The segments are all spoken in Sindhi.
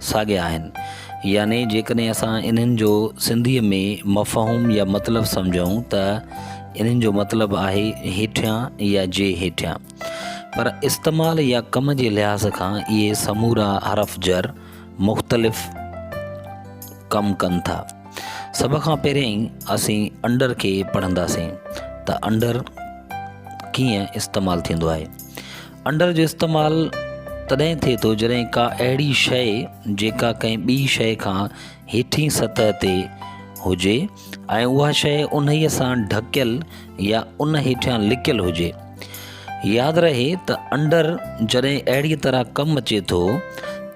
ساڳيا آهن، يعني جيڪڏهن اسان انهن جو سنڌيء ۾ مفهوم يا مطلب سمجهون ته انهن جو مطلب آهي هيٺيان يا جي هيٺيان. پر استعمال يا ڪم جي لحاظ کان اهي سمورا حرف جر مختلف ڪم ڪن ٿا. سڀ کان پهريائين اسين انڊر کي پڙهنداسين ته انڊر ڪيئن استعمال ٿيندو آهي. انڊر جو استعمال تڏهن ٿئي ٿو جڏهن ڪا اهڙي شيء جيڪا ڪنهن ٻي شيء کان هيٺين سطح تي هجي ۽ اها شيء انهيء سان ڍڪيل يا ان هيٺيان لڪيل هجي. ياد رهي ته انڊر جڏهن اهڙيء طرح ڪم اچي ٿو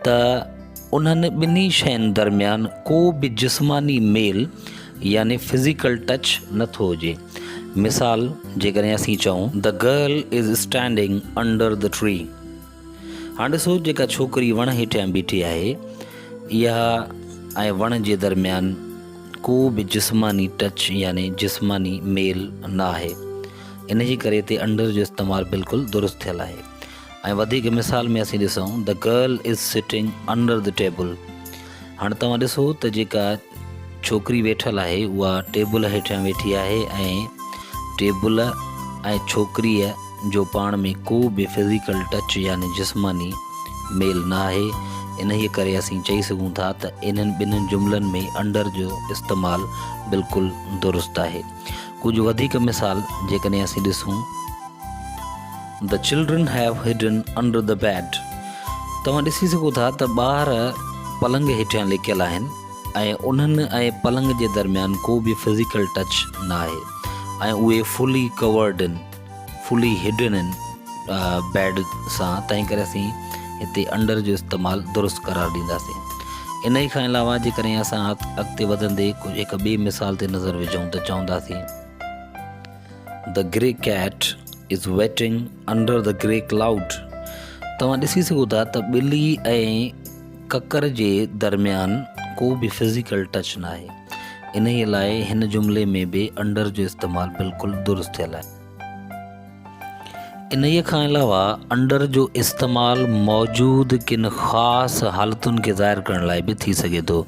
ته انهن ٻنهي شين درميان ڪو به جسماني ميل يعني فزيڪل ٽچ نه ٿو هجي. مثال، جيڪڏهن اسين چئون The girl is standing under the tree. هاڻ ڏسو جيڪا ڇوڪري وڻ هيٺيان بيٺي آهي، اها ۽ وڻ جي درميان ڪو به جسماني ٽچ يعني جسماني ميل نه آهي. ان جي ڪري اتي under جو استعمال بلڪل درست ٿيل آهي. ۽ وڌيڪ مثال ۾ اسين ڏسون The girl is sitting under the table هاڻ توهان ڏسو ته جيڪا ڇوڪري ويٺل آهي اها ٽيبل هيٺيان ويٺي آهي ۽ ٽيبل ۽ ڇوڪريء جو پاڻ ۾ ڪو به فزيڪل ٽچ يعني جسماني ميل نه آهي انهيء ڪري اسين چئي سگهون ٿا ته انهن ٻنهن جملن ۾ انڊر جو استعمال بلڪل درست آهي ڪجهه وڌيڪ مثال جيڪڏهن اسين ڏسون The children have hidden under the bed. توهان ڏسي سگهو ٿا ته ٻار پلنگ هيٺيان لڪيل آهن ۽ انهن ۽ پلنگ جي درميان ڪو به فزيڪل ٽچ ناهي ۽ اهي fully covered in fully hidden in bed سان تنهن ڪري اسين هتي انڊر جو استعمال درست قرار ڏينداسين انهي کان علاوه جيڪڏهن اسان اڳتي وڌندي ڪجهه هڪ ٻي مثال تي نظر وجهون ته چونداسين The grey cat is waiting under the grey cloud. توهان ڏسي سگهو ٿا ته ٻلي ۽ ڪڪر جي درميان ڪو به فزيڪل ٽچ نه آهي. انهيء لاء هن جملي ۾ به انڊر جو استعمال بلڪل درست ٿيل آهي. انهيء کان علاوه انڊر جو استعمال موجود ڪن خاص حالتن کي ظاهر ڪرڻ لاء به ٿي سگهي ٿو.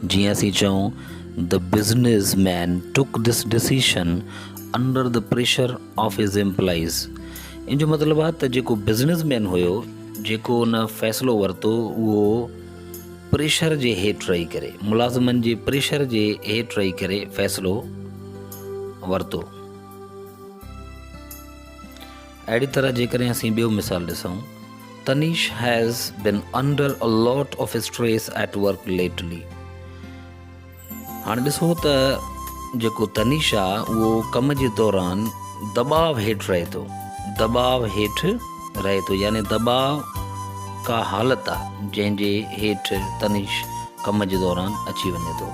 جيئن اسين چئون The business man took this decision under the pressure of his employees ان جو مطلب آهي ته جيڪو بزنس مين هيو جيڪو ان فيصلو ورتو اهو پريشر جي هيٺ رهي ڪري ملازمن جي پريشر جي هيٺ رهي ڪري فيصلو ورتو اهڙي طرح جيڪڏهن اسين ٻيو مثال ڏسون، تنيش has been under a lot of stress at work lately. هاڻ ڏسو ته جيڪو تنيش آ اهو ڪم جي دوران دٻاء هيٺ رهي ٿو. دٻاء هيٺ رهي ٿو يعني دٻاء ڪا حالت آ جنهن جي هيٺ تنيش ڪم جي دوران اچي وڃي ٿو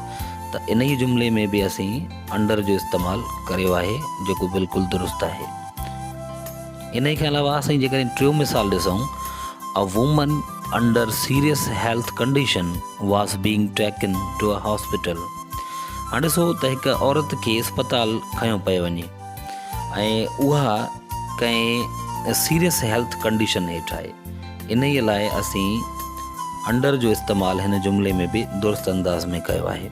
ته انهي جملي ۾ به اسين انڊر جو استعمال ڪريو آهي جيڪو بلڪل درست آهي. انهي کان علاوه اسين جيڪڏهن ٽيون مثال ڏسون A woman under serious health condition was being taken to a hospital. هاڻ ڏسو ته هڪ عورت کي اسپتال کنيو پيو وڃي ۽ اها ڪنهن سيريس هيلٿ ڪنڊيشن هيٺ آهي انهي لاء اسين انڊر جو استعمال هن جملي ۾ به درست انداز ۾ ڪيو آهي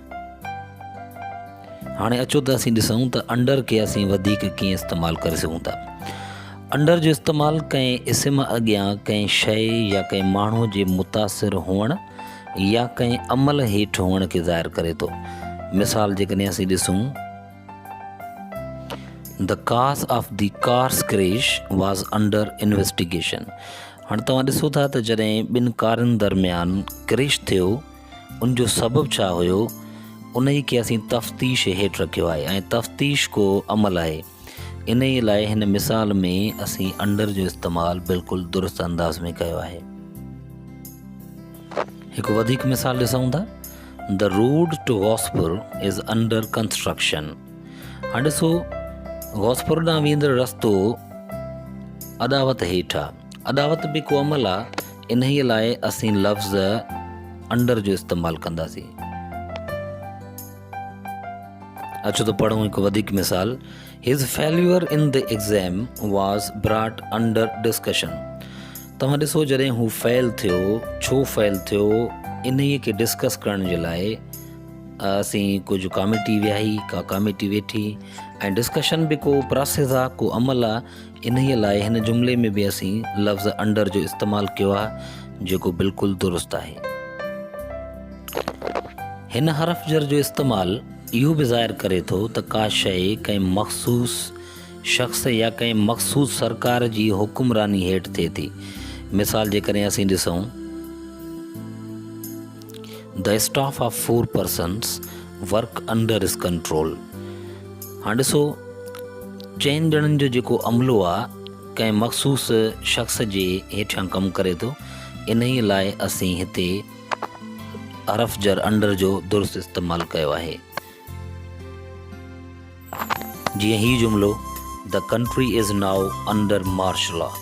هاڻي اچو ته اسين ڏسون ته انڊر کي اسين وڌيڪ ڪيئن استعمال ڪري سگهون ٿا انڊر جو استعمال ڪنهن اسم اڳيان ڪنهن شئي يا ڪنهن ماڻهو جي متاثر هئڻ يا ڪنهن عمل هيٺ هئڻ کي ظاهر ڪري ٿو مثال جيڪڏهن اسين ڏسون The cause of the car's crash was under investigation. هاڻي توهان ڏسو ٿا ته جڏهن ٻن ڪارن درميان ڪريش ٿيو ان جو سبب ڇا هيو انهي کي اسين تفتيش هيٺ رکيو آهي ۽ تفتيش ڪو عمل آهي انهي لاء هن مثال ۾ اسين انڊر جو استعمال بلڪل درست انداز ۾ ڪيو آهي. هڪ وڌيڪ مثال ڏسون ٿا The road to Gospur is under construction هاڻ ڏسو غوثپور ڏانهن ويندڙ رستو اڏاوت هيٺ آهي اڏاوت به ڪو عمل آ، انهيء لاء اسين لفظ انڊر جو استعمال ڪنداسين. اچو ته پڙهون هڪ وڌيڪ مثال، His failure in the exam was brought under discussion. توهان ڏسو جڏهن هو فيل ٿيو، ڇو فيل ٿيو، انهيء کي ڊسڪس ڪرڻ جي لاء اسين ڪجهه ڪاميٽي ويهي، ڪا ڪاميٽي ويٺي ۽ ڊسڪشن به ڪو پراسيس آ، ڪو عمل آ، انهيء لاء هن جملي ۾ به اسين لفظ انڊر جو استعمال ڪيو آهي جيڪو بلڪل درست آهي. هن حرف جر جو استعمال اهو به ظاهر ڪري ٿو ته ڪا شيء ڪنهن مخصوص شخص يا ڪنهن مخصوص سرڪار جي حڪمراني هيٺ ٿئي ٿي. مثال جيڪڏهن اسين ڏسون. The staff of four persons work under his control. هاڻ ڏسو چئن ڄڻن جو جيڪو عملو آهي ڪنهن مخصوص شخص جي هيٺيان ڪم ڪري ٿو انهي لاء اسين هتي حرف جر انڊر جو درست استعمال ڪيو آهي جيئن هي جملو The country is now under martial law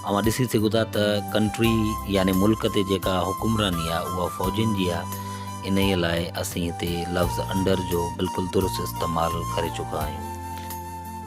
اوهان ڏسي سگهو ٿا ته ڪنٽري يعني ملڪ تي جيڪا حڪمراني آهي اها فوجين جي آهي انهيء لاء اسين هتي لفظ انڊر جو بلڪل درست استعمال ڪري چڪا آهيون.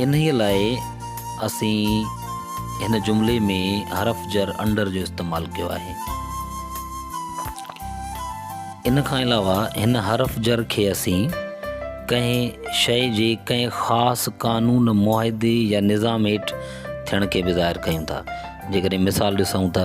انهيء لاء اسين هن جملي ۾ حرف جر Under جو استعمال ڪيو آهي. ان کان علاوه هن حرف جر کي اسين ڪنهن شيء جي ڪنهن خاص قانون، معاهدي يا نظام هيٺ ٿيڻ کي به ظاهر ڪيون ٿا. جيڪڏهن مثال ڏسون ته.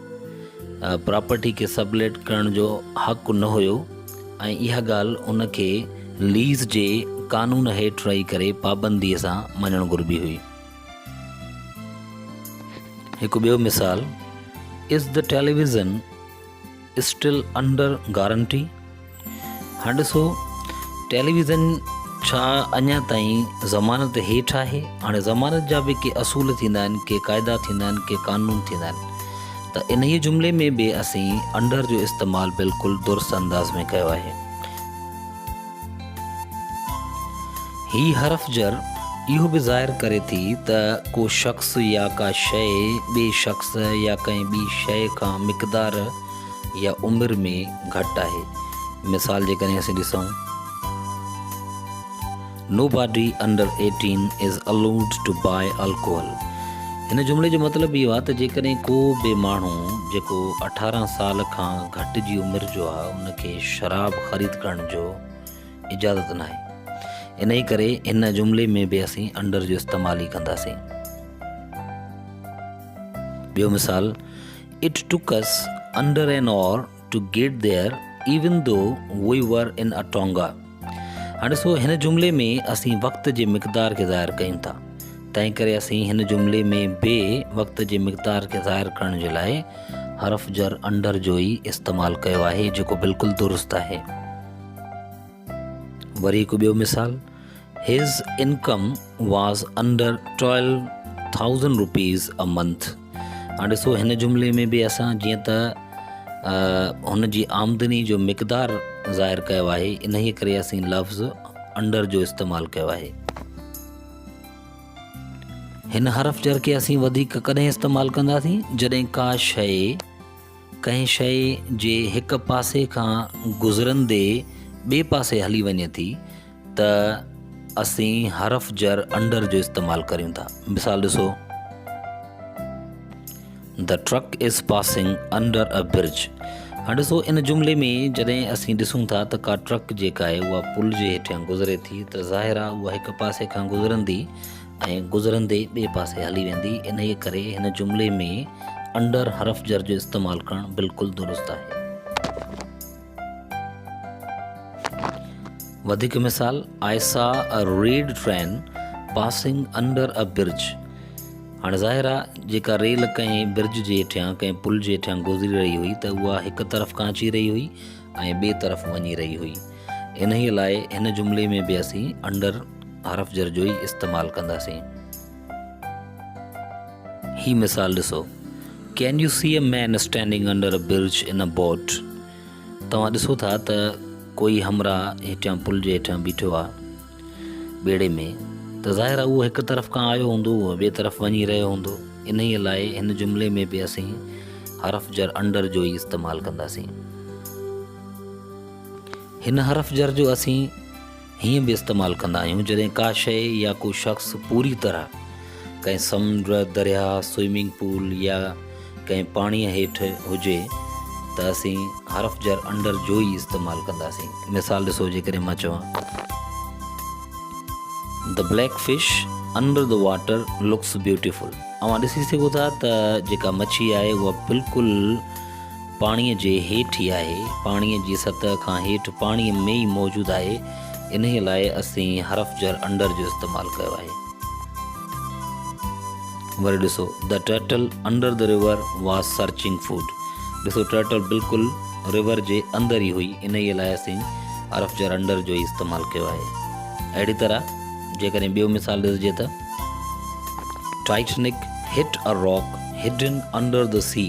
پراپرٽي کي سب ليٽ ڪرڻ جو حق نه هيو ۽ اها ڳالهه ان کي ليز جي قانون هيٺ رهي ڪري پابندي سان مڃڻ گهربي هئي. هڪ ٻيو مثال Is the television still under guarantee؟ هنڊسو، ٽيليويزن ڇا اڃا تائين ضمانت هيٺ آهي؟ هاڻي ضمانت جا به ڪي اصول ٿيندا آهن، ڪي قاعدا ٿيندا آهن، ڪي قانون ٿيندا آهن ته انهيء جملي ۾ به اسين انڊر جو استعمال بلڪل درست انداز ۾ ڪيو آهي. هي حرف جر اهو به ظاهر ڪري ٿي ته ڪو شخص يا ڪا شيء ٻئي شخص يا ڪنهن ٻي شيء کان مقدار، يا عمر ۾ گهٽ آهي. مثال جي ڪري اسين ڏسون. Nobody under eighteen is allowed to buy alcohol. هن جملي جو مطلب اهو آهي ته جيڪڏهن ڪو به ماڻهو جيڪو اٺارهن سال کان گهٽ جي عمر جو آهي ان کي شراب خريد ڪرڻ جو اجازت ناهي. انهي ڪري هن جملي ۾ به اسين under جو استعمال ئي ڪنداسين. ٻيو مثال It took us under an hour to get there even though we were in a Tonga. هاڻي سو هن جملي ۾ اسين وقت جي مقدار کي ظاهر ڪيون ٿا تنهن ڪري اسين هن جملي ۾ به وقت جي مقدار کي ظاهر ڪرڻ جي لاء حرف جر انڊر جو ئي استعمال ڪيو آهي جيڪو بلڪل درست آهي وري هڪ ٻيو مثال His income was under twelve thousand rupees a month. هاڻ ڏسو هن جملي ۾ به اسان جيئن ته هن جي آمدني جو مقدار ظاهر ڪيو آهي انهيء ڪري اسين لفظ انڊر جو استعمال ڪيو آهي هن حرف جر کي اسين وڌيڪ ڪڏهن استعمال ڪنداسين جڏهن ڪا شيء ڪنهن شيء جي هڪ پاسي کان گذرندي ٻئي پاسي هلي وڃي ٿي ته اسين حرف جر Under جو استعمال ڪريون ٿا. مثال ڏسو. The truck is passing under a bridge. هاڻ ڏسو ان جملي ۾ جڏهن اسين ڏسون ٿا ته ڪا ٽرڪ جيڪا آهي اها پل جي هيٺيان گذري ٿي ته ظاهر آهي اها هڪ پاسي کان گذرندي ۽ گذرندي ٻئي پاسي هلي ويندي، انهيء ڪري هن جملي ۾ انڊر حرف جر جو استعمال ڪرڻ بلڪل درست آهي. وڌيڪ مثال، I saw a red train passing under a bridge. هاڻي ظاهر آ جيڪا ريل ڪنهن برج جي هيٺيان ڪنهن پل جي هيٺيان گذري رهي هئي ته اها هڪ طرف کان اچي رهي هئي ۽ ٻئي طرف وڃي رهي هئي. انهيء لاء هن جملي ۾ به اسين Under حرف جر جو ئي استعمال ڪنداسين. هي مثال ڏسو Can you see a man standing under a bridge in a boat؟ توهان ڏسو ٿا ته ڪوئي همراهه هيٺيان پل جي هيٺيان بيٺو آهي. ٻيڙي ۾ ته ظاهر آهي اهو هڪ طرف کان آيو هوندو اهو ٻئي طرف وڃي رهيو هوندو، انهيء لاء هن جملي ۾ به اسين حرف جر انڊر جو ئي استعمال ڪنداسين. هن حرف جر جو اسين هيئن به استعمال ڪندا آهيون جڏهن ڪا شيء يا ڪو شخص پوري طرح ڪنهن سمنڊ، درياهه، سوئمنگ پول يا ڪنهن پاڻيء هيٺ هجي ته اسين حرف جر Under جو ئي استعمال ڪنداسين. مثال ڏسو جيڪڏهن مان چوان The black fish under the water looks beautiful اوهان ڏسي سگهو ٿا ته جيڪا مڇي آهي اها بلڪل پاڻيء جي هيٺ ئي آهي، پاڻيء جي سطح کان هيٺ پاڻيء ۾ ئي موجود آهي، انهيء لاء اسين حرف جر Under جو استعمال ڪيو آهي. وري ڏسو The turtle under the river was searching food. ڏسو ٽرٽل بلڪل رور جي اندر ئي هئي انهيء لاء اسين حرف جر انڊر جو ئي استعمال ڪيو آهي اهڙي طرح جيڪڏهن ٻيو مثال ڏسجي ته Titanic hit a rock hidden under the sea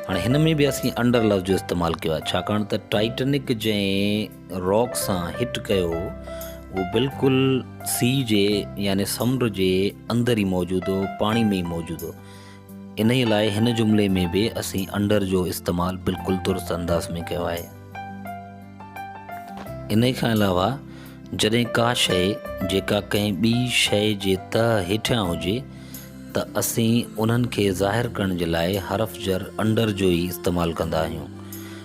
هاڻي هن ۾ به اسين انڊر لفظ جو استعمال ڪيو آهي ڇاڪاڻ ته ٽائٽنڪ جنهن راڪ سان هٽ ڪيو هو اهو بلڪل سي جي يعني سمنڊ جي اندر ئي موجود هو پاڻي ۾ ئي موجود هو انهي لاء هن جملي ۾ به اسين انڊر جو استعمال بلڪل درست انداز ۾ ڪيو آهي انهي کان علاوه جڏهن ڪا شئي جيڪا ڪنهن ٻي شئي جي تهه هيٺيان هجي ته اسين انهن کي ظاهر ڪرڻ جي لاء حرف جر انڊر جو ئي استعمال ڪندا آهيون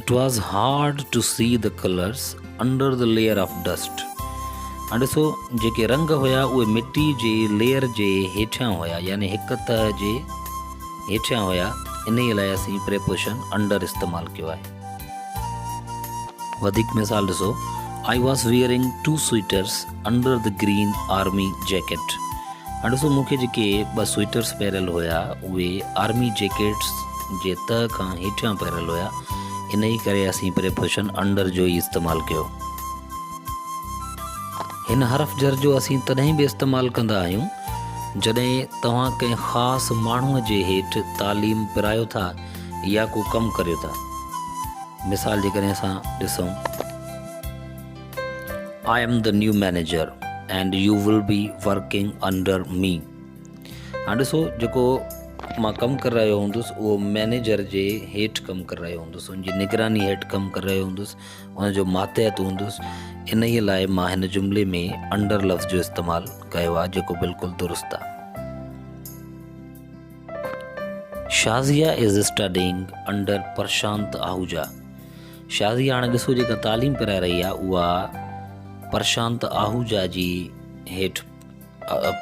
It was hard to see the colours under the layer of dust. هاڻ ڏسو جيڪي رنگ هيا اهي مٽي جي ليئر جي هيٺيان هيا يعني هڪ تهه جي هيٺيان هيا انهي لاء اسين پريپوشن انڊر استعمال ڪيو آهي وڌيڪ مثال ڏسو I was wearing two sweaters under the green army jacket هنڊسو مون کي جيڪي ٻه سوئيٽرس پهريل هيا اهي آرمي جيڪٽس جي تهه کان هيٺيان پهريل هيا انهي ڪري اسين پريپوشن انڊر جو ئي استعمال ڪيو هن حرف جر جو اسين تڏهن به استعمال ڪندا آهيون جڏهن توهان ڪنهن خاص ماڻهو جي هيٺ تعليم پرايو ٿا يا ڪو ڪم ڪريو ٿا مثال جيڪڏهن اسان ڏسون I am the new manager and you will be working under me هاڻ ڏسو جيڪو مان ڪم ڪري رهيو هوندس اهو مينيجر جي هيٺ ڪم ڪري رهيو هوندس ان جي نگراني هيٺ ڪم ڪري رهيو هوندس ان جو ماتحت هوندس ان ئي لاء مان هن جملي ۾ انڊر لفظ جو استعمال ڪيو آهي جيڪو بلڪل درست آهي Shazia is studying under Prashant Ahuja Shazi هاڻ ڏسو جيڪا تعليم پرائي رهي آهي اها پرشانت آهوجا جي هيٺ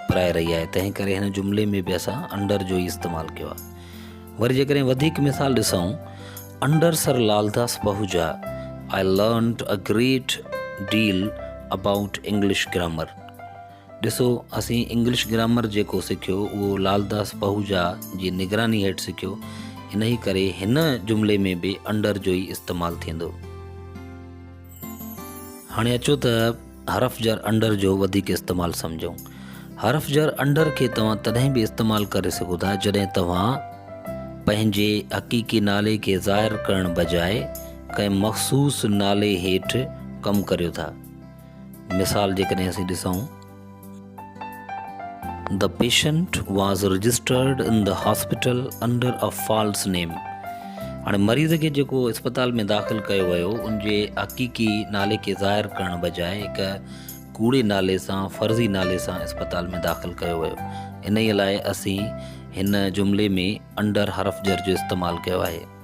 پرائي رهي آهي تنهن ڪري هن جملي ۾ به اسان انڊر جو ئي استعمال ڪيو آهي وري جيڪڏهن وڌيڪ مثال ڏسون under sir Laldas Pahuja I learned a great deal about English grammar ڏسو اسين انگلش گرامر جيڪو سکيو اهو لالداس پهوجا جي نگراني هيٺ سکيو انهي ڪري هن جملي ۾ به انڊر جو ئي استعمال ٿيندو. هاڻي اچو ته حرف جر انڊر جو وڌيڪ استعمال سمجهون. حرف جر انڊر کي توهان تڏهن به استعمال ڪري سگهو ٿا جڏهن توهان پنهنجي حقيقي نالي کي ظاهر ڪرڻ بجاء ڪنهن مخصوص نالي هيٺ ڪم ڪريو ٿا. مثال جيڪڏهن اسين ڏسون The patient was registered in the hospital under a false name. هاڻي مريض کي جيڪو اسپتال ۾ داخل ڪيو ويو ان جي حقيقي نالي کي ظاهر ڪرڻ بجاء هڪ ڪوڙي نالي سان فرضي نالي سان اسپتال ۾ داخل ڪيو ويو انهيء لاء اسين هن جملي ۾ انڊر حرف جر جو استعمال ڪيو آهي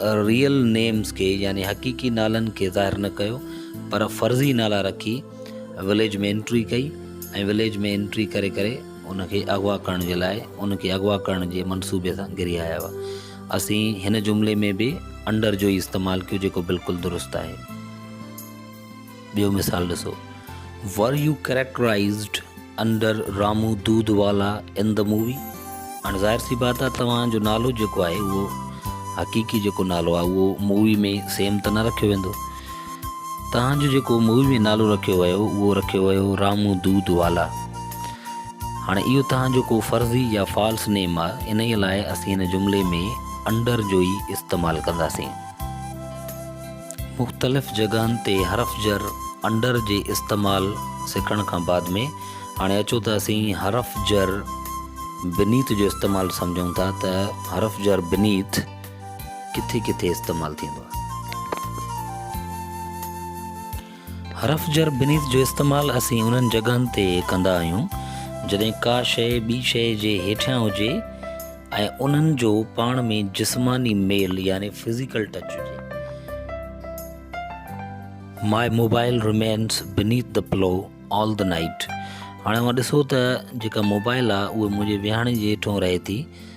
ريئل نيمز کي يعني حقيقي نالن کي ظاهر نه ڪيو پر فرضي نالا رکي وليج ۾ انٽري ڪئي ۽ وليج ۾ انٽري ڪري ڪري ان کي اغوا ڪرڻ جي لاء ان کي اغوا ڪرڻ جي منصوبي سان گھري آيا هئا اسين هن جملي ۾ به انڊر جو ئي استعمال ڪيو جيڪو بلڪل درست آهي. ٻيو مثال ڏسو، Were you characterized under Ramu Dudhwala in the movie؟ هاڻي ظاهر سي بات آهي توهان جو نالو جيڪو آهي اهو حقيقي جيڪو نالو آهي اهو مووي ۾ سيم ته نه رکيو ويندو. توهان جو جيڪو مووي ۾ نالو رکيو ويو اهو رکيو ويو رامو دود والا. هاڻي اهو توهان جو ڪو فرضي يا فالس نيم آهي انهي لاء اسين هن جملي ۾ انڊر جو ئي استعمال ڪنداسين. مختلف جڳهن تي حرف جر Under جي استعمال سکڻ کان بعد ۾ هاڻي اچو ته اسين حرف جر Beneath جو استعمال سمجهون ٿا ته حرف جر Beneath ڪٿي ڪٿي استعمال ٿيندو آهي. حرف جر بنيت جو استعمال اسين انهن جڳهن تي ڪندا آهيون جڏهن ڪا شيء ٻي شيء جي هيٺيان هجي ۽ انهن جو پاڻ ۾ جسماني ميل يعني فزيڪل ٽچ هجي. My mobile remains beneath the pillow all the night هاڻي اوهان ڏسو ته جيڪا موبائل آهي اهو منهنجي ويهاڻي جي هيٺون رهي ٿي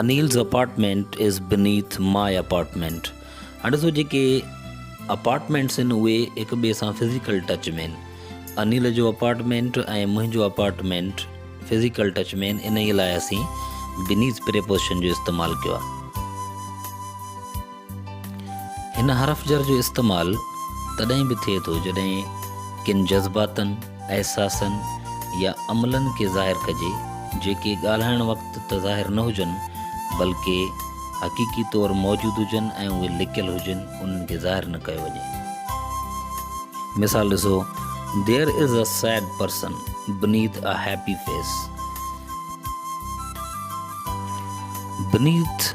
Anil's apartment is beneath my apartment هاڻي ڏسو جيڪي اپارٽمينٽس آهن اهي هڪ ٻئي سان فزيڪل ٽچ ۾ آهن انيل جو اپارٽمينٽ ۽ منهنجو اپارٽمينٽ فزيڪل ٽچ ۾ آهن انهي لاء اسين بنيٿ پريپوزيشن جو استعمال ڪيو آهي هن حرف جر جو استعمال تڏهن به ٿئي ٿو جڏهن ڪن جذباتن، احساسن يا عملن کي ظاهر ڪجي جيڪي ڳالهائڻ وقت ته ظاهر نه هجن بلڪه حقيقي طور موجود هجن ۽ اهي لڪيل هجن انهن کي ظاهر نه ڪيو وڃي. مثال ڏسو، There is a sad person beneath a happy face. Beneath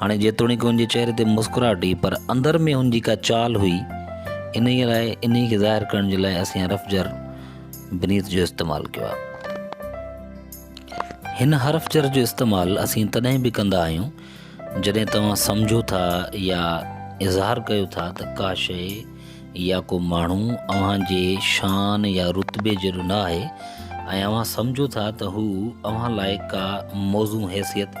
هاڻي جيتوڻيڪ هن جي چهري تي مسڪراهٽ هئي پر اندر ۾ هن جي ڪا چال هئي انهيء لاء انهيء کي ظاهر ڪرڻ جي لاء اسين حرف جر بنيت جو استعمال ڪيو آهي هن حرف جر جو استعمال اسين تڏهن به ڪندا آهيون جڏهن توهان سمجهو ٿا يا اظهار ڪيو ٿا ته ڪا شيء يا ڪو ماڻهو اوهان جي شان يا رتبي جهڙو نه آهي ۽ اوهان سمجهو ٿا ته هو اوهان لاء ڪا موضوع حيثيت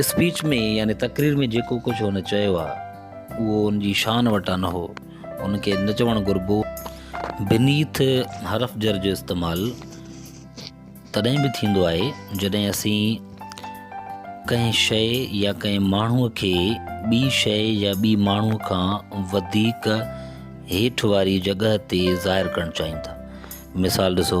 اسپيچ ۾ يعني تقرير ۾ جيڪو ڪجهه هن چيو آهي اهو هن جي شان وٽان نه هو، هن کي نه چوڻ گهربو. Beneath حرف جر جو استعمال تڏهن به ٿيندو آهي جڏهن اسين ڪنهن شيء يا ڪنهن ماڻهوء کي ٻي شيء يا ٻي ماڻهوء کان وڌيڪ هيٺ واري جڳهه تي ظاهر ڪرڻ چاهيون ٿا. مثال ڏسو.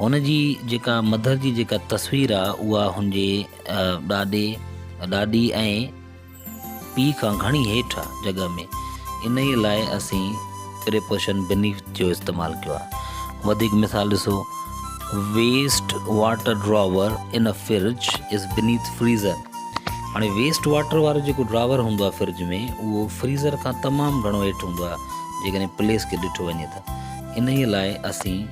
هن جي جيڪا مڌر جي جيڪا تصوير آ اها هن جي ڏاڏي، ڏاڏي ۽ پيء کان گهڻي هيٺ آ جڳهه ۾، انهيء لاء اسين Preposition Beneath جو استعمال ڪيو آ. وڌيڪ مثال ڏسو، Waste water drawer in a fridge is beneath freezer. هاڻي ويسٽ واٽر وارو جيڪو ڊراور هوندو آ فرج ۾ اهو فريزر کان تمام گهڻو هيٺ هوندو آ جيڪڏهن پليس کي ڏٺو وڃي ته انهيء لاء اسين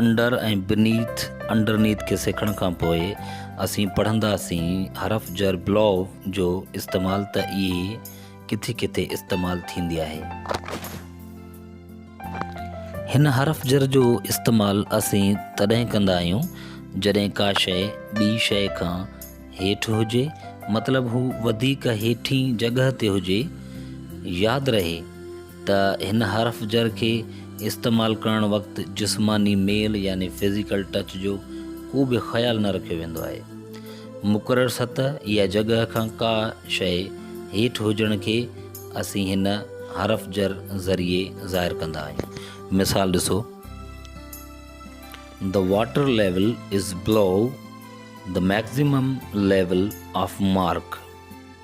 Under ۽ Beneath، Underneath، کي سکڻ کان پوء اسين پڙهنداسين حرف جر Below جو استعمال ته اهي ڪٿي ڪٿي استعمال ٿيندي آهي. هن حرف جر جو استعمال اسين تڏهن ڪندا آهيون جڏهن ڪا شيء ٻي شيء کان هيٺ هجي مطلب هو وڌيڪ هيٺين جڳهه تي هجي. ياد رهي! ته هن حرف جر کي استعمال ڪرڻ وقت جسماني ميل يعني Physical Touch جو ڪو به خيال نه رکيو ويندو آهي. مقرر سطح يا جڳهه کان ڪا شيء هيٺ هجڻ کي اسين هن حرف جر ذريعي ظاهر ڪندا آهيون. مثال ڏسو. The water level is below the maximum level of mark.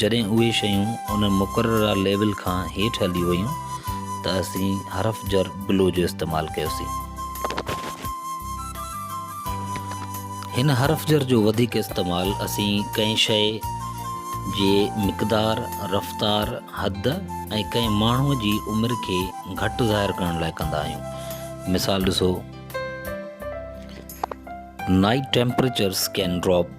جڏهن اهي شيون ان مقرره ليول کان هيٺ هلي ويون ته اسين حرف جر بلو جو استعمال ڪيوسين. هن حرف جر جو وڌيڪ استعمال اسين ڪنهن شيء جي مقدار، رفتار، حد ۽ ڪنهن ماڻهوء جي عمر کي گهٽ ظاهر ڪرڻ لاء ڪندا آهيون. مثال ڏسو. Night temperatures can drop.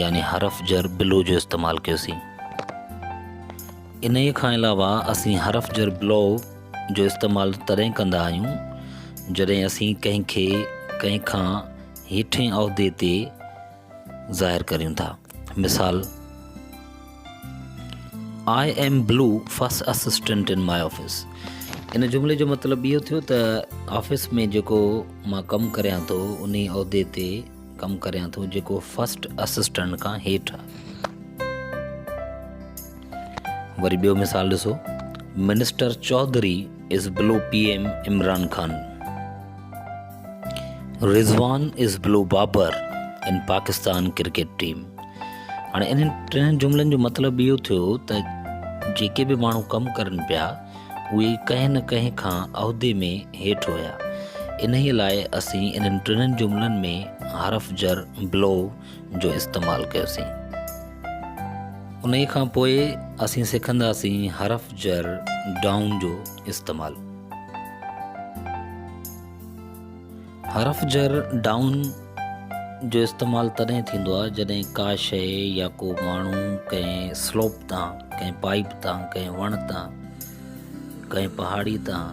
يعني حرف جر بلو جو استعمال ڪيوسين انهيء کان علاوه اسين حرف جر بلو جو استعمال تڏهن ڪندا آهيون جڏهن اسين ڪنهن کي ڪنهن کان هيٺين عهدي تي ظاهر ڪريون ٿا مثال I am below first assistant in my office ان جملي جو مطلب اهو ٿيو ته آفيس ۾ جيڪو مان ڪم ڪريان ٿو ان عهدي تي ڪم ڪريان ٿو جيڪو فرسٽ اسسٽنٽ کان هيٺ آ. وري ٻيو مثال ڏسو minister Chaudhry is below P M Imran Khan Rizwan is below Babar in Pakistan cricket team هاڻي انهن ٽن جملن جو مطلب اهو ٿيو ته جيڪي به ماڻهو ڪم ڪرن پيا اهي ڪنهن نه ڪنهن کان عهدي ۾ هيٺ هيا. انهيء لاء اسين انهن ٽنهن جملن ۾ حرف جر Blow جو استعمال ڪيوسين. انهيء کان پوء اسين سکنداسين حرف جر Down جو استعمال. حرف جر Down جو استعمال تڏهن ٿيندو آهي جڏهن ڪا شيء يا ڪو ماڻهو ڪنهن سلوپ تان، ڪنهن پائيپ تان، ڪنهن وڻ تان، ڪنهن پهاڙي تان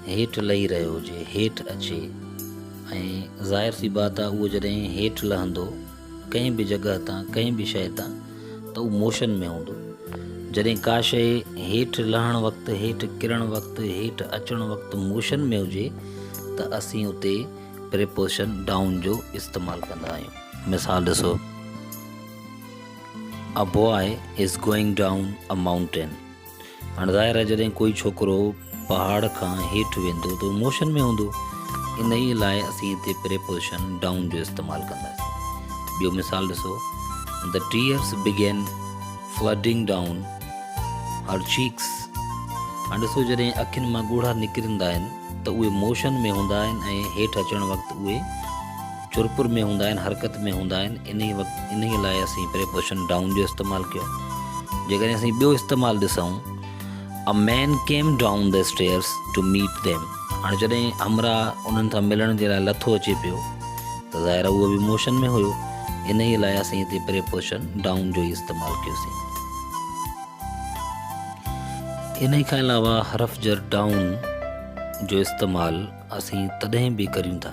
هيٺ لهي رهيو هجي، هيٺ اچي ۽ ظاهر سي بات آهي اهو جڏهن هيٺ لهندو ڪنهن به جڳهه تان ڪنهن به شيء تان ته اهو موشن ۾ هوندو. جڏهن ڪا شيء هيٺ لهڻ وقت، هيٺ ڪرڻ وقت، هيٺ اچڻ وقت موشن ۾ هجي ته اسين اتي پريپوزيشن Down جو استعمال ڪندا آهيون. مثال ڏسو، A boy is going down a mountain. هاڻ ظاهر آهي جڏهن ڪوئي ڇوڪرو پهاڙ کان هيٺ ويندو ته هو موشن ۾ هوندو، انهيء لاء اسين هتي پريپوزيشن Down جو استعمال ڪنداسين. ٻيو مثال ڏسو، The tears began flooding down her cheeks. هاڻ ڏسو جڏهن اکين مان ڳوڙها نڪرندا آهن ته اهي موشن ۾ هوندا آهن ۽ هيٺ اچڻ وقت اهي چرپر ۾ هوندا آهن، حرڪت ۾ هوندا آهن، انهيء وقت انهيء لاء اسين پريپوزيشن ڊائون جو استعمال ڪيو. جيڪڏهن اسين ٻيو استعمال ڏسون، A man came down the stairs to meet them. هاڻي جڏهن همراهه انهن سان ملڻ جي لاء لٿو اچي پيو ته ظاهر آهي اهو به موشن ۾ هيو، انهيء لاء اسين هتي پريپوزيشن ڊائون جو ئي استعمال ڪيوسين. انهيء کان علاوه حرف جر ڊائون جو استعمال اسين تڏهن به ڪريون ٿا،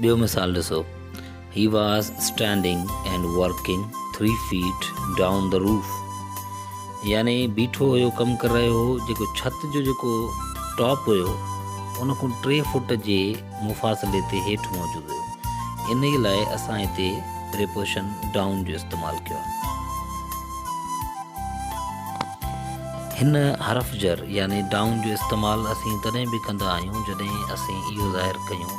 ٻيو مثال ڏسو، He was standing and working three feet down the roof. يعني بيٺو هيو ڪم ڪر رهيو هو جيڪو ڇت جو جيڪو ٽاپ هيو ان کان ٽي فوٽ جي مفاصلي تي هيٺ موجود هيو انهي لاء اسان هتي پريپوزيشن ڊائون جو استعمال ڪيو آهي. هن حرف جر يعني ڊائون جو استعمال اسين تڏهن به ڪندا آهيون جڏهن اسين اهو ظاهر ڪيون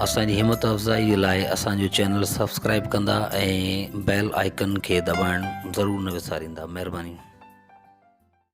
اسان جي همت افزائي لاء اسان جو چينل سبسڪرائب ڪندا ۽ بيل آئيڪن کي دٻائڻ ضرور نه وساريندا مهرباني